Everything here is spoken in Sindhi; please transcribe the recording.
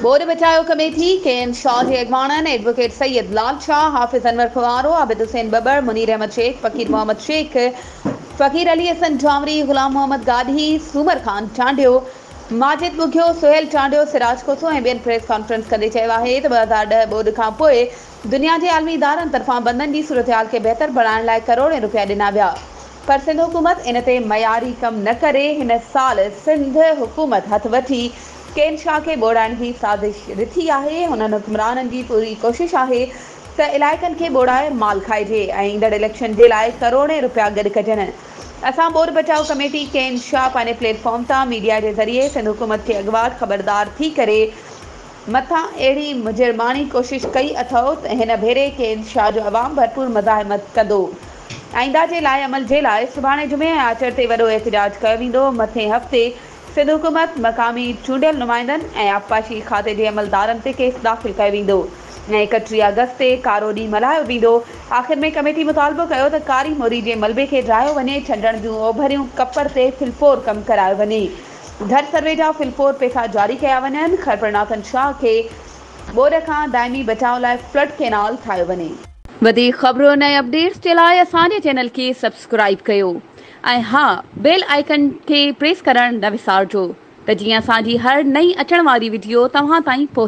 ٻوڏ بچايو ڪميٽي، ڪي ايم شاهه جي اڳواڻن، ايڊووڪيٽ سيد لال شاهه، حافظ انور کوهارو، عابد حسين ٻٻر، منير احمد شيخ، فقير محمد شيخ، فقير علي حسن جهانوري، غلام محمد گاڏهي، سومر خان چانڊيو، ماجد ٻگهيو، سهيل چانڊيو، سراج کوسو ۽ ٻين پريس ڪانفرنس ڪندي چيو آهي ته ٻه هزار ڏهه ٻوڏ کانپوء دنيا جي عالمي ادارن طرفان بندن جي صورتحال کي بهتر بڻائڻ لاء ڪروڙين روپيا ڏنا ويا پر سنڌ حڪومت ان تي معياري ڪم نه ڪري هن سال سنڌ حڪومت هٿ وٺي ڪين شاهه کي ٻوڙائڻ جي سازش رٿي آهي، انهن حڪمرانن جي پوري ڪوشش آهي ته علائقن کي ٻوڙائي مال کائجي ۽ ايندڙ اليڪشن جي لاء ڪروڙين رپيا گڏ ڪجن، اسان ٻوڏ بچاء ڪميٽي ڪين شاهه پنهنجي پليٽ فارم تان ميڊيا جي ذريعي سنڌ حڪومت کي اڳواٽ خبردار ٿي ڪري مٿان اهڙي مجرماڻي ڪوشش ڪئي اٿئو ته هن ڀيري ڪين شاهه جو عوام ڀرپور مزاحمت ڪندو آئنده جي لائحه عمل جي لاء سڀاڻي جمعي ۽ آچر تي وڏو احتجاج ڪيو ويندو مٿين هفتي سنڌ حڪومت، مقامي چونڊيل نمائندن ۽ آبپاشي کاتي جي عملدارن تي ڪيس داخل ڪيو ويندو ۽ اڪٽيهه آگسٽ تي ڪارو ڏينهن ملهايو ويندو. آخر ۾ ڪميٽي مطالبو ڪيو ته ڪاري موري جي ملبي کي ڊاهيو وڃي، ڇنڊڻ جون اوڀريون ڪپر تي ڦلپور ڪم ڪرايو وڃي، گهر سروي جا ڦلپور پئسا جاري ڪيا وڃن، خرپرناٿن شاهه کي ٻوڏ کان دائمي بچاء لاء فلڊ ڪينال ٺاهيو وڃي. وڌيڪ خبرون ۽ اپڊيٽس جي لاء اسان جي چينل کي سبسڪرائيب ڪيو. ۽ ها بيل آئيڪن کي پريس ڪرڻ نه وسارجو ته جيئن اسان جي هر نئين اچڻ واري وڊيو توهان تائين پهچي.